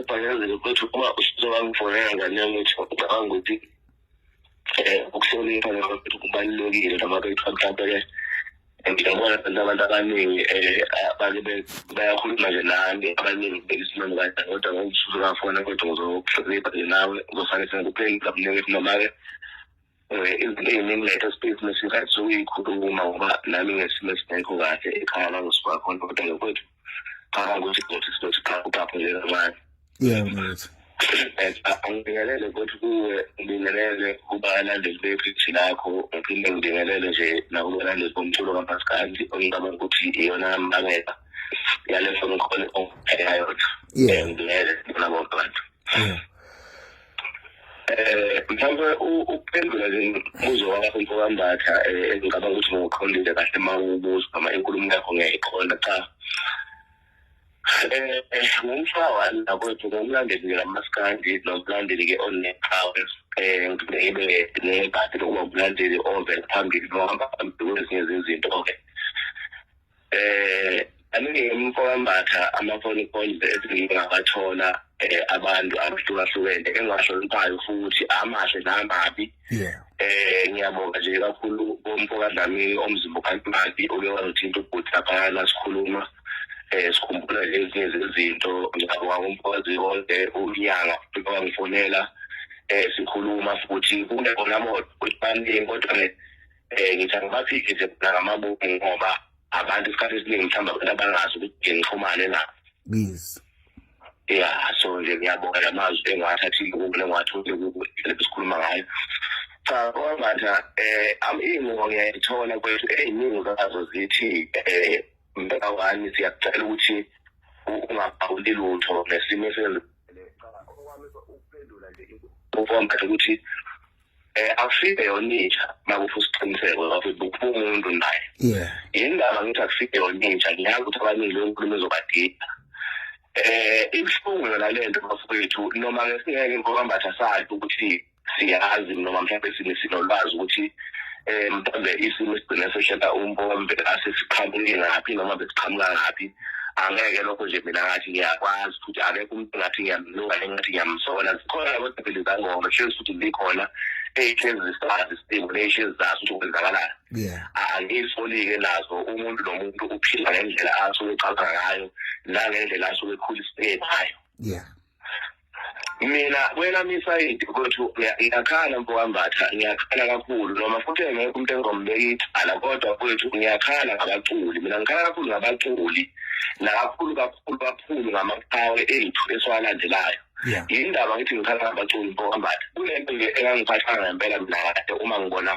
Bhanyazile kwethu uma usuzobangifonela ngane yami ukuthi ucabanga ukuthi um ukuhlonipha nakwethu kubalulekile noma kuthiwa mhlawumbe-ke ngiyabona abantu abantu abaningi um bake bayakhuluma nje nami abaningi bekisimani kanjani kodwa ngokuzuzukafona kwethu ngizokuhlonipha nje nawe uzofane sengikuphendula kuningi ukuthi noma-ke eh, izinto ey'ningi late esipeyisini esingathi ukuyikhuluma ngoba nami ngesimo esingekho kahle ekhaya langisuka khona kodwa ngokwethu qala ukuthi kuthi sizothi qala uqaphe nje kancane yeah mfethu angibingelele futhi kuwe ngibingelele kubalandeli bephithi lakho ngiphinde ngibingelele nje nakubalandeli bomculo kapasikandi ongicabanga ukuthi iyona mbangela yale foni khona ongipheyayo ngibingelele bona bonke abantu eh mhlawumbe ukuphendula nje umbuzo wakho mfokambatha eh, engicabanga ukuthi ngoqondile kahle uma ubuza noma inkulumo yakho ngiyayiqonda cha eh, eh ngumfa wami nakwethu ngomlandeli nje lamaskandi nomlandeli ke oneqhawe eh ngibeke nebhadi lokuba umlandeli ovela phambili nohamba phambili kwezinye izinto okay eh aningimfowambatha amafoni calls esingabathola eh abantu abahlukahlukene engahloniphayo futhi amahle namabi yeah eh ngiyabonga nje kakhulu umfoka Dlamini omzimbo kantimati oke wazothinta ubhuti lapha la sikhuluma eh sikhumbula lezi izinto ngiyabonga umfokazi wonke unyanga futhi wangifonela eh sikhuluma futhi kune bona moto ukuthi baningi kodwa um ngithi angibaphiki nje mina ngamabomu ngoba abantu isikhathi esiningi mhlawumbe abantu abangazi ukuthi nje ngixhumane na yes ya so nje ngiyabonga la mazwi engiwathathile kubo lengiwathole kubo esikhuluma ngayo cha kwangathi um iy'ncingo ngiyayithola kwethu ey'ningi zazo zithi um mbeka wani siyakucela ukuthi ungaphawuli lutho ngesimo esenzekile cha okwami ukuphendula nje ukwambatha ukuthi eh akusibe yoninja makuthi usiqiniseko ukuthi bukho umuntu naye yeah indaba ngithi akusibe yoninja ngiyazi ukuthi abaningi lo nkulumo ezobadida eh ibuhlungu yona lento bafowethu noma ke singeke ngokwambatha sakhe ukuthi siyazi noma mhlawumbe sinolwazi ukuthi um mhlawumbe isimo esigcine sehlela umbombe asesiqhamuke ngaphi noma besiqhamuka ngaphi angeke lokho nje mina ngathi ngiyakwazi futhi akekho umuntu ngathi ngiyamlunga nengathi ngiyamsola zikhona labo dabeli zangoma hlezi futhi zikhona eyihlezi zisazi isimo neyihlezi zazi ukuthi kwenzakalani angisoli-ke nazo umuntu nomuntu uphila ngendlela asuke ecabanga ngayo nangendlela asuke ekhulisiwe ngayo yeah mina kwelami isayidi ukuthi ngiyakhala mfokambatha ngiyakhala kakhulu noma futhi engekho umuntu engizombeka ithala kodwa kwethu ngiyakhala ngabaculi mina ngikhala kakhulu ngabaculi nakakhulu kakhulu kakhulu ngamaqhawe ethu esiwalandelayo yindaba ngithi ngikhala ngabaculi mfokambatha kunento nje engangiphathanga ngempela mina kade uma ngibona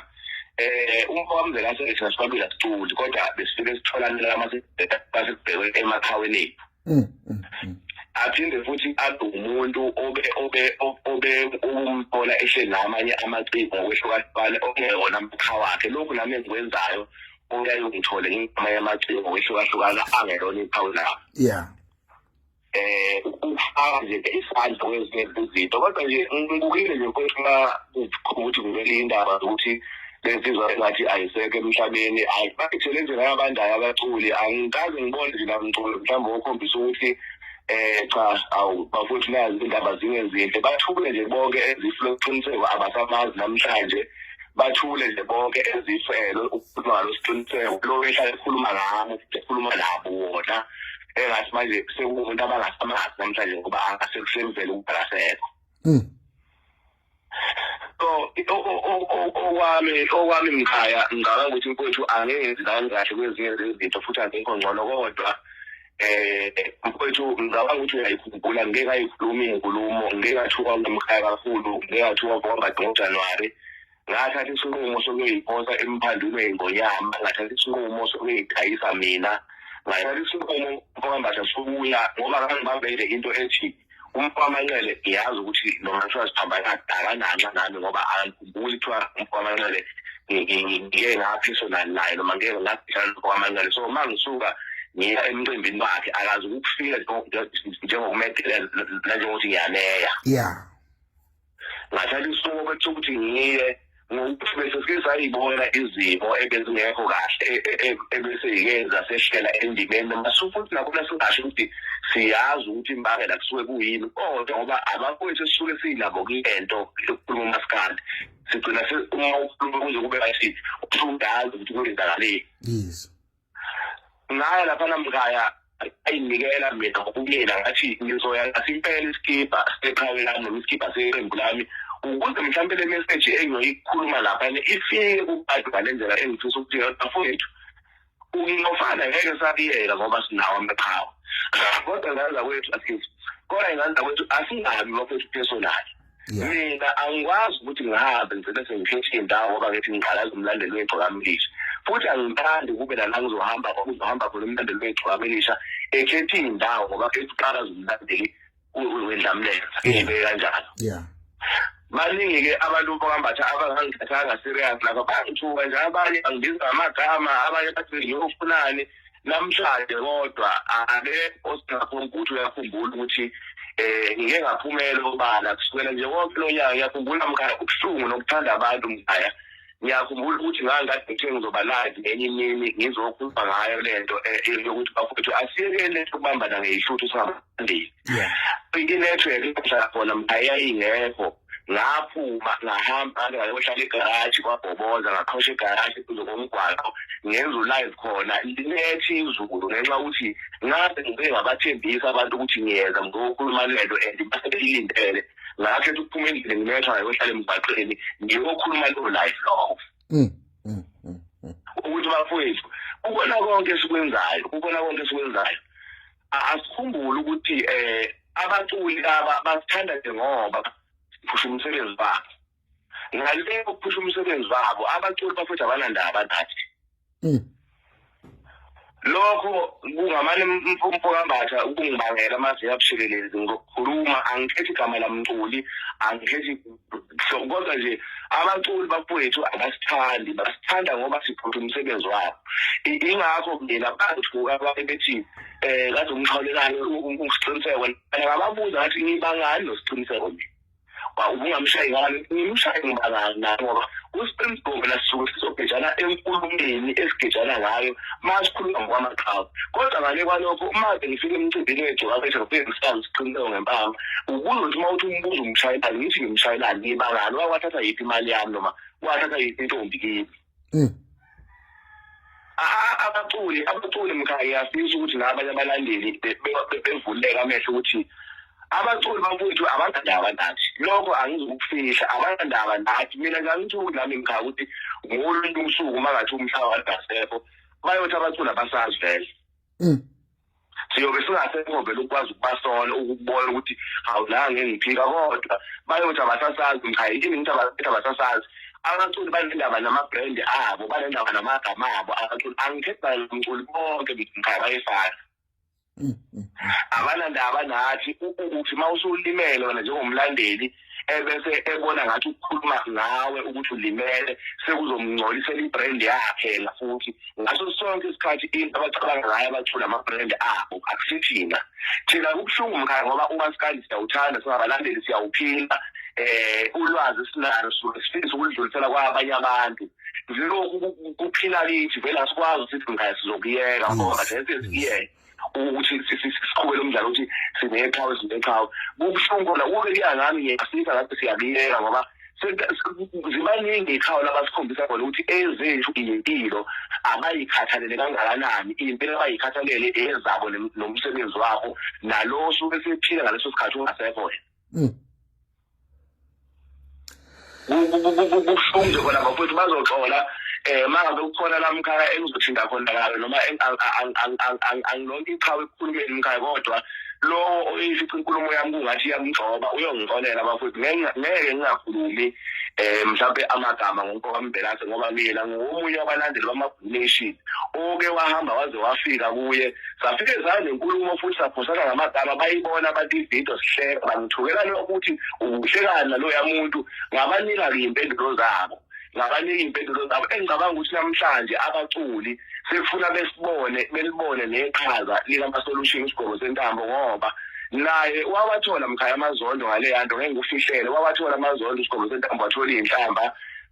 eh umfowamzela asethi nasibabila siculi kodwa besifike sitholanela amasibheke emakhaweni ethu Mm, mm, mm. aphinde futhi abe umuntu obe obe obe ukumthola ehleli namanye amaciko ngokwehlukahlukana okungeyona mkha wakhe lokhu nami engikwenzayo uyaye ungithole ngamanye amaciko ngokwehlukahlukana angelona iphawu lawo yeah eh ukufaka nje isandla kwezinye izinto kodwa nje ngibukile nje ukuthi kumele indaba ukuthi bensizwa sengathi ayisekho emhlabeni hayi bathele nje nayabandayo abaculi angikaze ngibone nje namculo mhlawumbe okhombisa ukuthi eh cha awu bafuthi nazi indaba zingenzinhle bathule nje bonke ezifuna ukuqiniseko abasamazi namhlanje bathule nje bonke ezifelo ukukhuluma ngalo siqiniseko lo ehlale ekhuluma ngabo ekhuluma nabo wona engathi manje sekuwumuntu abangasamazi namhlanje ngoba angasekusenzela ukubhalasekho mm. okwami okwami mkhaya ngicabanga ukuthi mfowethu angeke ngizani kahle kwezinye zezinto futhi angekho ngcono kodwa eh mfowethu ngicabanga ukuthi uyayikhumbula ngeke ayikhulumi inkulumo ngeke athuka umkhaya kakhulu ngeke athuka ngoba ngoJanuary ngathatha isinqumo sokuyoyiphonsa emphandwini weyingonyama ngathatha isinqumo sokuyidayisa mina ngathatha isinqumo mfokambatha sokuya ngoba kangibambele into ethi umfamanqele ngiyazi ukuthi noma kuthiwa siphambana akananxa nami ngoba angikhumbuli kuthiwa umfamanqele ngike ngaphisonal naye noma ngike ngabhishana nomfamanqele so uma ngisuka ngiya emcimbini wakhe akazi ukufika njengokumedela nanjengokuthi ngiyaneya yeah ngathatha isinqumo kwethu ukuthi ngiye ngokuthi bese sisayibona izimo ebezingekho kahle e, e, e, ebeseyikeza seshela endimeni masu futhi nakhona singasho ukuthi siyazi ukuthi imbangela kusuke kuyini kodwa ngoba abafowethu esisuke siyinabo kuyento yokukhuluma umasikandi sigcina uma ukhuluma kuze kube ngathi usudazi ukuthi kwenzakaleni yes ngaya laphana mkhaya ayinikela mina ngokumina ngathi ngizoya ngathi impela isikibha seqhawe lami noma isikibha seqembu lami ukuze mhlawumbe le message engiyoyikhuluma lapha ifike kubantu ngale ndlela engifisa ukuthi bafowethu ukuyofana ngeke sabiyela ngoba sinawo amaqhawe kodwa ngandla kwethu asizi kodwa ngandla kwethu asingabi bafowethu personally mina angikwazi ukuthi ngabe ngigcine sengishintshe indawo ngoba ngithi ngiqalaza umlandeli wegcokamilisha futhi angithandi kube nala ngizohamba kuzohamba khona umlandeli wegcokamilisha ekhethe iy'ndawo ngoba khethi uqalaza umlandeli wendlamlenza ibe kanjalo yeah baningi-ke abantu bambatha abangangithathanga serious lapha bangithuka nje abanye bangibiza ngamagama abanye bathi ngiyofunani namhlanje kodwa ake osingakho ukuthi uyakhumbula ukuthi eh ngike ngaphumela obala kusukela nje wonke lo nyaka ngiyakhumbula mkhaya ubuhlungu nokuthanda abantu mkhaya ngiyakhumbula ukuthi ngangikade ngithe ngizoba live ngenye imini ngizokhuluma ngayo le nto eh, eh, yokuthi bafowethu asiyekele ukubambana ngeyishuthu singabandile inethiwekhi ehlala khona mkhaya ingekho ngaphuma ngahamba ngayohlala egaraji kwabhoboza ngaqhosha egaraji kuze komgwaqo ngenza ulive khona linethi izulu ngenxa ukuthi ngabe ngibe ngabathembisa abantu ukuthi ngiyeza ngizokhuluma lento and basebeyilindele ngakhetha ukuphuma endlini nginethwa ngayohlala emgwaqeni ngiyokhuluma leyo live lokho mm, mm, mm, ukuthi bafowethu ukona konke esikwenzayo ukona konke esikwenzayo asikhumbule ukuthi eh abaculi aba basithanda nje ngoba siphusha umsebenzi wabo ngale ukuphusha umsebenzi wabo abaculi bafethu abanandaba nathi hmm. lokho kungamane umfumfo kambatha ukungibangela amazinga abushelelezi ngokukhuluma angikhethi igama lamculi angikhethi so kodwa nje abaculi bafowethu abasithandi basithanda ngoba siphutha umsebenzi wabo ingakho mina bangithuka babe bethi eh kade umxhawulelane ukusiqiniseko ngababuza ngathi ngibangani nosiqiniseko mina ba ubungamshayi ngani ngimshayi ngibangani ngoba usiqiniseko mina sisuke sizogejana enkulumeni esigejana ngayo masikhuluma ngokwamaqhawe kodwa ngale kwalokho uma bengifika emcimbini wethu wabethu ngokuyemsana siqinileyo ngempama ubuza ukuthi uma uthi umbuzo umshayelani ngithi ngimshayelani ngibangani wakwathatha yiphi imali yami noma wathatha yiphi intombi kimi hmm. abaculi abaculi mkhaya siyisho ukuthi nabanye abalandeli bevuleka amehlo ukuthi abaculi bakwethu abanandaba nathi lokho angizukufihla abanandaba nathi mina ngangithi nami ngikhaya ukuthi ngolunye usuku uma ngathi umhlaba wadasekho bayothi abaculi abasazi vele mm. siyobe singasekho vele ukwazi ukubasola ukubona ukuthi awunange ngiphika kodwa bayothi abasasazi ngikhaya yini ngithi abasethi abasasazi abaculi banendaba nama-brand abo banendaba namagama abo abaculi angikhethi bayomculi bonke ngikhaya bayefana abanandaba nathi ukuthi uma usulimele wena njengomlandeli ebese ebona ngathi ukukhuluma ngawe ukuthi ulimele sekuzomngcolisela ibrand yakhe yena futhi ngaso sonke isikhathi into abacabanga ngayo abathula amabrand abo akusithina thina kubuhlungu mkhaya ngoba uma sikanje siyawuthanda singabalandeli siyawuphila um ulwazi sinalo sifisa ukulidlulisela kwabanye abantu lokhu kuphila kithi vele asikwazi ukuthi singaye sizokuyeka ngoba sense sikuyeke ukuthi siqhubele umdlalo ukuthi sineqhawe sineqhawe kubuhlungu khona kube kuya ngami ngiyasika ngathi siyakuyeka ngoba zibaningi ikhaya labasikhombisa khona ukuthi ezethu impilo abayikhathalele kangakanani impilo abayikhathalele ezabo nomsebenzi wabo nalo osuke sephila ngaleso sikhathi ungasekho wena mm. kubuhlungu nje khona bafowethu bazoxola um uma ngabe kukhona la mkhaya engizothinta khona kayo noma angilonke iqhawe ekukhulumeni umkhaya kodwa lowo oyisithi inkulumo yami kungathi iyamgcoba uyongixolela bafowethu ngeke ngingakhulumi um mhlawumbe amagama ngonkokambelase ngoba mina ngiwomunye wabalandeli nation oke wahamba waze wafika kuye safike sanenkulumo futhi saphosana ngamagama bayibona abantu ividiyo sihleka bangithukela lokuthi ubuhlekani naloya muntu ngabanika-ke iy'mpendulo zabo ngabanika iy'mpendulo zabo engicabanga ukuthi namhlanje abaculi sekufuna besibone belibone neqhaza likamasolution isigqoko sentambo ngoba naye wawathola mkhaya amazondo ngaleya nto ngeke ngikufihlele wawathola amazondo isigqoko sentambo wathola iy'nhlamba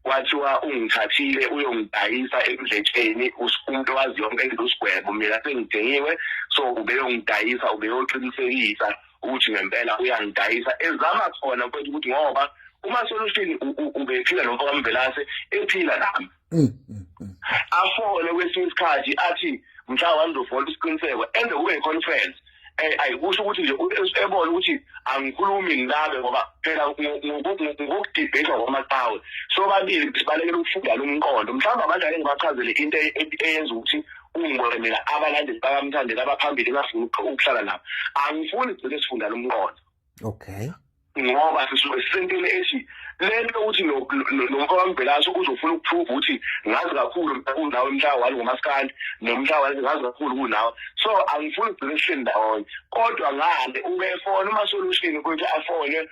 kwathiwa ungithathile uyongidayisa emdletsheni umuntu owazi yonke into usigwebo mina sengidingiwe so ubeyongidayisa ubeyoqinisekisa ukuthi ngempela uyangidayisa ezama khona kwethu ukuthi ngoba uma solution ubephila nomfo kamvelase ephila nami mm, mm, mm. afone kwesinye isikhathi athi mhla wandofona isiqiniseko enze kube i-conference eh, ayikusho ukuthi nje ebona ukuthi angikhulumi ninabe ngoba phela ngokudebate kwamaqhawe sobabili sibalekela ukufunda lo mqondo mhlawumbe abantu ake ngibachazele into e-, e-, eyenza ukuthi ungibone mina abalandeli bakamthandela abaphambili engafuni ukuhlala nabo angifuni gcine sifunda lo mqondo okay ngoba sisuke sisentele ethi lento ukuthi nomfo wambhelaso uzofuna ukuprove ukuthi ngazi kakhulu kunawe mhlawali ngomasikandi nomhlawali ngazi kakhulu kunawe so angifuni ukugcina sihleli ndawonye kodwa ngale ubefona uma solution ukuthi afone um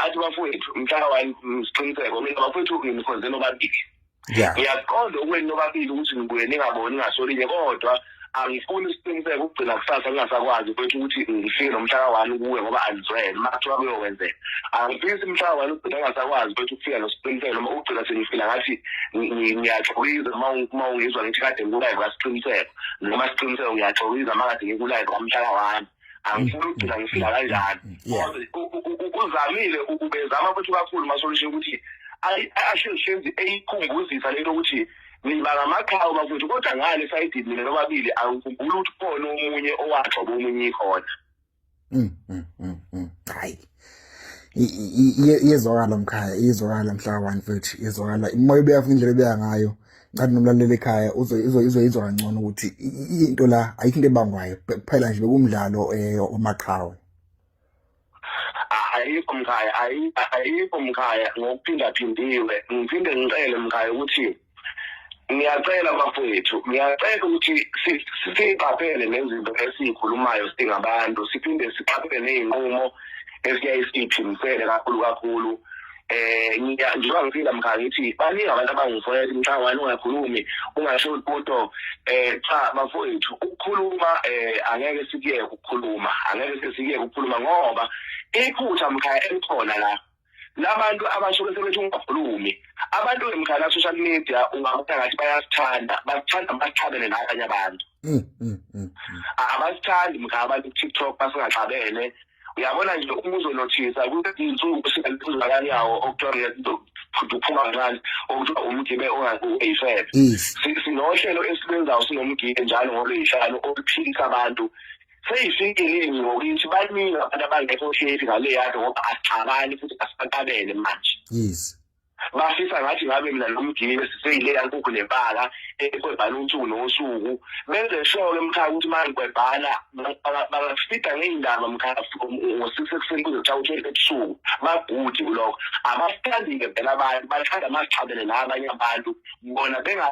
athi bafowethu mhlawali siqiniseko mina bafowethu nginikhonze nobabili Yeah. Ngiyaqonda okwenu nobabili ukuthi nibuye ningaboni ngasolinye kodwa angifuni isiqiniseko ukugcina kusasa kungasakwazi kwethu ukuthi ngifike nomhla ka-one kuwe ngoba andizwele uma kuthiwa kuyokwenzeka angifisi umhla ka-one ugcina kungasakwazi kwethu ukufika nosiqiniseko noma ugcina sengifila ngathi ngiyaxokiza uma ungizwa ngithi kade ngikulayive kasiqiniseko noma siqiniseko ngiyaxokiza uma kade ngikulayive kwamhla ka-one angifuni ukugcina ngifika kanjani uzamile ubezama futhi kakhulu masolution ukuthi ashezishenzi eyikhumbuzisa lento ukuthi niba ngamaqhawe bakwethu kodwa ngale sayidini mina nobabili angikhumbuli ukuthi khona omunye owagxoba omunye ikhona mm, mm, mm, hayi iyezwakala mkhaya iyezwakala mhla one futhi iyezwakala imoya ubeya futhi indlela ebeya ngayo ngathi nomlaleli ekhaya uzoyizwa kangcono ukuthi into la ayikho into ebangwayo kuphela nje bekumdlalo eh, omaqhawe ayikho mkhaya ayikho mkhaya ngokuphindaphindiwe ngiphinde ngicele mkhaya ukuthi ngiyacela bafowethu ngiyacela ukuthi siqaphele nezinto esiyikhulumayo singabantu siphinde siqaphele ney'nqumo esiyaye siyiphimisele kakhulu kakhulu eh ngiya ngiba ngifika mkhaya ngithi baningi abantu abangifowela imhlawani ungakhulumi ungasho lutho eh cha bafowethu ukukhuluma eh angeke sikuyeke ukukhuluma angeke sikuyeke ukukhuluma ngoba iphutha mkhaya elikhona la labantu abasho bese bethi ungakhulumi abantu emkhaya social media ungabona ngathi bayasithanda basithanda basithabele nabanye abantu mm, mm, mm, abasithandi mkhaya abantu ku-tiktok basingaxabene uyabona nje uma uzonothisa kuzinsuku singaluphuzakani yawo okuthiwa ngiyakuthi uphuma kancane okuthiwa umgibe ongayifebe sinohlelo esilwenzayo sinomgibe njalo ngolweyihlanu oluphilisa abantu seyisinkilingi ngokuthi baningi abantu abangekho shedi ngale yado ngoba asixabani futhi asibakabele manje yes bafisa ngathi ngabe mina nomgibeli siseyileya nkukhu nebala ekwebhala usuku nosuku benze sure-ke mkhaya ukuthi uma ngikwebhala bangafida ngey'ndaba mkhaya ngo-six ekuseni kuze kuthiwa utshele ebusuku bagudi kulokho abasithandi-ke phela abantu bathanda masixhabele nabanye abantu bona benga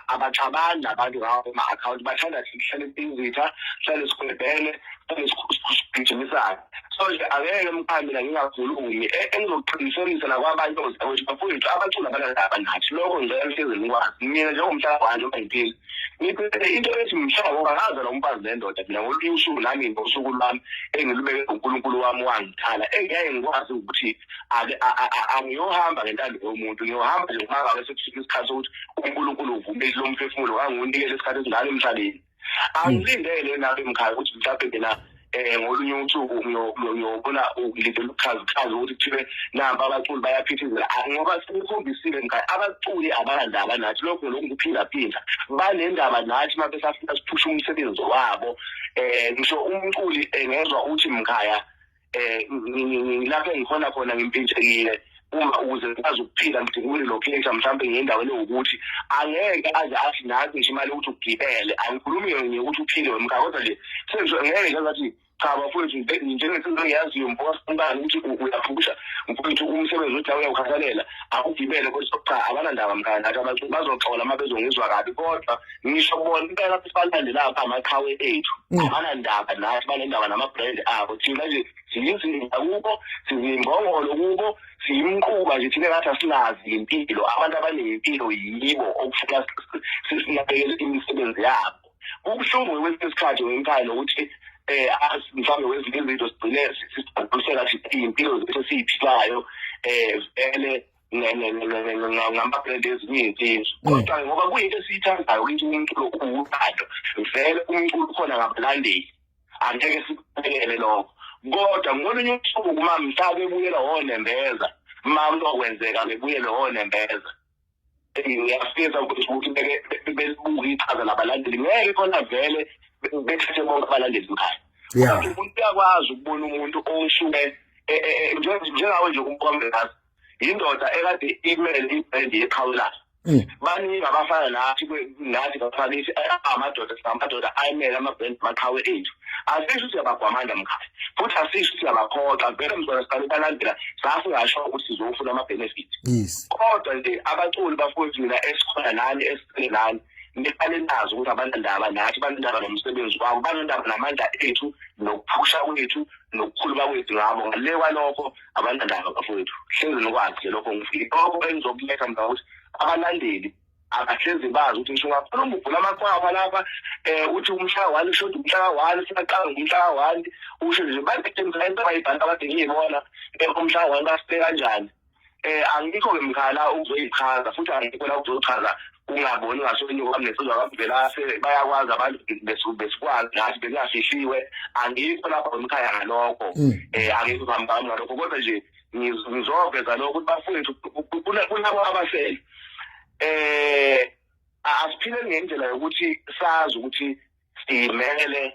abaxabani abantu ngawo ama-akhawunti bathanda sihlale siyizitha sihlale sigwebhele sihlale sigijimisane so nje angeke mkhambi la ngingakhulumi e, engizokuqinisekisa nakwabanye ozakuthi bafowethu abacula abanalaba nathi lokho ngicela nihlezi nikwazi mina njengomhlaba wanje ongayiphili ngiphele into ethi mhlaba ngoba ngaza lo mfazi nendoda mina ngolunye usuku nami ngosuku lwami engilubeke unkulunkulu wami wangithala engiyaye ngikwazi ukuthi ake a- a- a- angiyohamba ngentando yomuntu ngiyohamba nje ngoba ngabe sekufika isikhathi sokuthi unkulunkulu uvumile lo mphefumulo kangiwunikele isikhathi esingaka emhlabeni angilindele nabe mkhaya ukuthi mhlawumbe mina um ngolunye usuku ngiyo- ngiyo- ngiyobona ngilindele ukuchazichaza ukuthi kuthibe nampa abaculi bayaphithizela Ah, ngoba sikukhombisile mkhaya abaculi abanandaba nathi lokho lokhu kuphindaphinda banendaba nathi uma besafuna siphushe umsebenzi wabo um ngisho umculi engezwa ukuthi mkhaya um ngilapho engikhona khona ngimpintshekile uma ukuze ngikwazi ukuphila ngidinga ukulilokhetha mhlawumbe ngendaweni ewukuthi angeke aze athi nazi ngisho imali yokuthi ugibele angikhulumi yona ukuthi uphile wemka kodwa nje sengisho ngeke ngathi cha bafowethu njengesizwe engiyaziyo mfokasikubani ukuthi uyaphusha mfowethu umsebenzi othi uyawukhathalela akugibele kodwa cha abanandaba mkani athi abantu bazoxola uma bezongizwa kabi kodwa ngisho bona impela sibalande lapha amaqhawe ethu mm. abanandaba nathi banendaba nama-brand abo thina nje siyizinda kubo sizimbongolo kubo siyimquba nje thina ngathi asinazi ngempilo abantu abanempilo yibo okufuna sinakekele imisebenzi yabo kubuhlungu kwesinye isikhathi ngemphayi nokuthi eh mhlawumbe wezinye izinto sigcine sisibhadusela sithi impilo zethu esiyiphilayo eh vele ngambabhede ezinye izinsizwa mm. kodwa ngoba kuyinto esiyithandayo ukuthi umculo uwuthando vele umculo ukhona ngabalandeli angeke sikubekele lokho kodwa ngolunye usuku uma mhla bebuyela wonembeza ma kuzokwenzeka bebuyele wonembeza ngiyafisa ukuthi belibuke ichaza labalandeli ngeke khona vele bethathe bonke abalandeli mkhaya yeah uyakwazi ukubona umuntu osuke e, e, e, njengawe nje umkombe ngazi yindoda ekade imele ibhendi yeqhawulana mm. baningi abafana nathi nathi bafanisi amadoda singamadoda ayimele amabhendi maqhawe ethu asisho ukuthi siyabagwamanda mkhaya futhi asisho ukuthi siyabakhoxa vele mzona siqale balandela sasingasho ukuthi sizofuna ama-benefit kodwa nje abaculi bafowethu mina esikhona nani esiqele nani niqale nazi ukuthi abanandaba nathi banendaba nomsebenzi wabo banendaba namandla ethu nokuphusha kwethu nokukhuluma kwethu ngabo ngale kwalokho abanandaba bafowethu hlezi nokwazi nje lokho ngilokho engizokuletha mna ukuthi abalandeli akahlezi bazi ukuthi ngisho ungakhuluma uvula amakhwapha lapha um uthi umhlaka wani ushoda umhlaka wani siyaqala ngumhlaka wani usho nje badetemisa into abayibhanta abade ngiyibona um umhlaka wani basite kanjani um angikho-ke mkhala ukuzoyichaza futhi angikho la ukuzochaza kungaboni ngasolinye kwami nesizwa kwakuvela bayakwazi abantu besikwazi nathi bekungafihliwe angikho lapha emkhaya ngalokho um angikho phambi kwami ngalokho kodwa nje ngizoveza lokho ukuthi bafowethu kunabo abasele um asiphile ngendlela yokuthi sazi ukuthi simele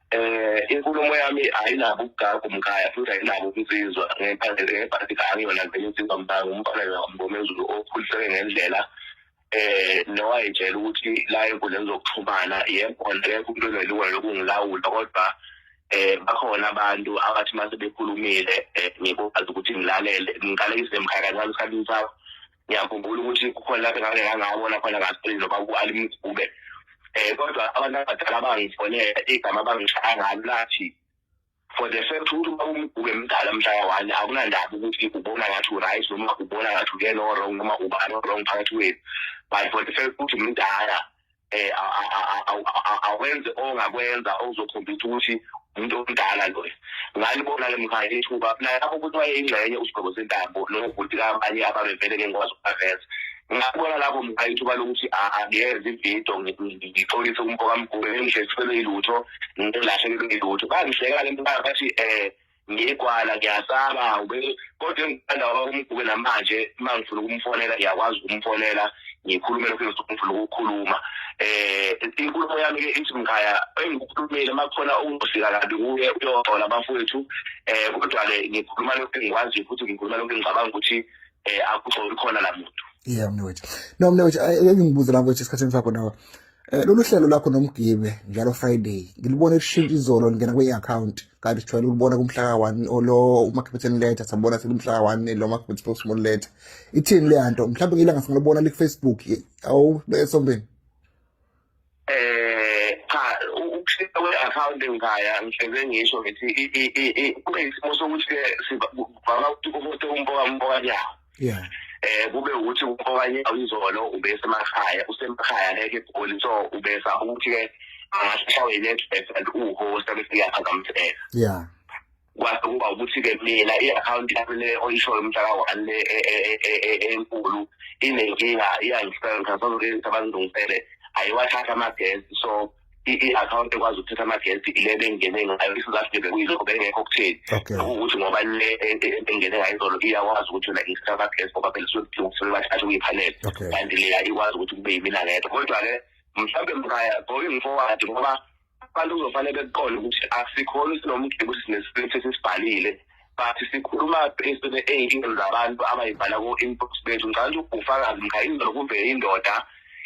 eh inkulumo yami ayinabo ukugaga umkhaya futhi ayinabo ukusizwa ngephandle ngebhasi angiyona vele insizwa mntanga umfana ngomezulu okhuliseke ngendlela eh nowayitshela ukuthi la enkundleni zokuxhumana yebo ngeke umuntu onelungelo lokungilawula kodwa eh bakhona abantu abathi mase bekhulumile eh, ngikwazi ukuthi ngilalele ngiqale izemkhaya kancane isikhathi sakho ngiyakhumbula ukuthi kukhona lapho ngake ngangawona khona kasprin noba ku-alimgube um kodwa abantu abadala abangifonela igama abangishaya ngalo lathi for the fact ukuthi uba umgube mdala mhlaka one akunandaba ukuthi ubona ngathi uright noma ubona ngathi uyena o-wrong noma ubani o-wrong phakathi kwethu but for the fact ukuthi mdala eh awenze ongakwenza okuzokhombisa ukuthi umuntu omdala loyo ngalibona ke mkhaya ithuba nalapho ukuthi wayeyingxenye usigqoko sentambo nobhuti kabanye ababevele ke ngikwazi ukubaveza ngabona lapho mkhaya ithuba lokuthi angiyenze ividiyo ngixolise umfokamgube engihlesifele ilutho ngilahlekelwe ilutho bangihleka le mkhaya bathi um ngigwala ngiyasaba kodwa engithanda umgube namanje uma ngifuna ukumfonela ngiyakwazi ukumfonela ngikhulume lokho engifuna ukukhuluma eh inkulumo yami ke ithi mkhaya engikukhulumile makukhona okungifika kabi kuye uyoxola bafowethu eh kodwa ke ngikhuluma lokho engikwazi futhi ngikhuluma lokho engicabanga ukuthi eh akuxoli khona la muntu yeah mnewethu no mnewethu ngibuze la ukuthi isikhathi sakho nawe Eh, lolu hlelo lakho nomgibe njalo friday ngilibona elishintsha izolo lingena kwi-akhawunti kanti sijwayele ulibona kumhlaka one olo umakhabetheni letha sabona selimhlaka one lo makhabethe postmon letha ithini leya nto mhlawumbe ngilanga singalibona likufacebook awu esombeni eh cha ukushintsha kwe-akhawunti ngikhaya ngihleze ngisho ngithi kube yisimo sokuthi-ke sivama ukuthi umuntu umboka umboka nyawo yeah eh kube ukuthi okanye izolo ubesemakhaya usemakhaya ngeke egoli so ubesa ukuthi ke angashawe network and uhost bese iyaphazamiseka yeah kwase kuba ukuthi ke mina i-akhawunti yami le oyishoyo umhlaka one le e, e, e, enkulu inenkinga iyangisenga sazokenzisa bangilungisele ayiwathatha amagesi so i-akhawunti ekwazi ukuthatha amagesti ile bengene ngayo isizathu bekuyilokho bengekho okutheni ukuthi ngoba le engene ngayo izolo iyakwazi ukuthi yona isithatha amagesti ngoba phela isuke kudinga ukuthi bathathe kuyiphanele kanti leya ikwazi ukuthi kube yimina ngedwa kodwa-ke mhlawumbe mkhaya going forward ngoba abantu kuzofanele bekuqonde ukuthi asikhona sinomgebe ukuthi sinesipilisi esisibhalile but sikhuluma esine ey'nkingeni zabantu abayibhala ku-inbox bethu ngicabanga ukuthi ubufakazi mkha indlela kumbe indoda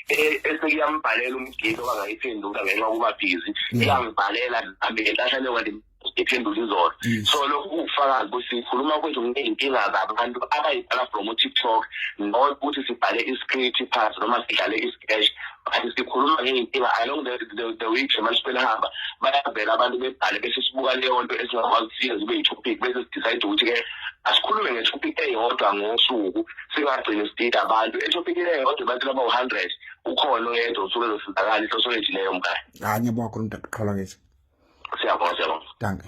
e-, esekuyambhalela umgili owangayiphendula ngenxa yokuba bhizi mm. iyangibhalela nami ngenhlahla leyo kanti iphendula izolo mm. so lokhu kuwufakazi ukuthi sikhuluma kwethu ngey'nkinga zabantu abayibhala from utiktok not ukuthi sibhale i-script pass noma sidlale i-sketch kanti sikhuluma ngey'nkinga along the, the, the week nje manje sebelihamba bayavela abantu bebhale bese sibuka leyo nto esingakwazi ukufika zibe yi-topic bese sidicide ukuthi-ke asikhulume nge-topic eyodwa ngosuku singagcini sidida abantu etopikini eyodwa abantu abawu-hundred ukhona oyedwa usuke ezosizakala ihloso lethu leyo mkhaye hayi ngiyabonga khona mntakuqhala ngithi siyabonga siyabonga danke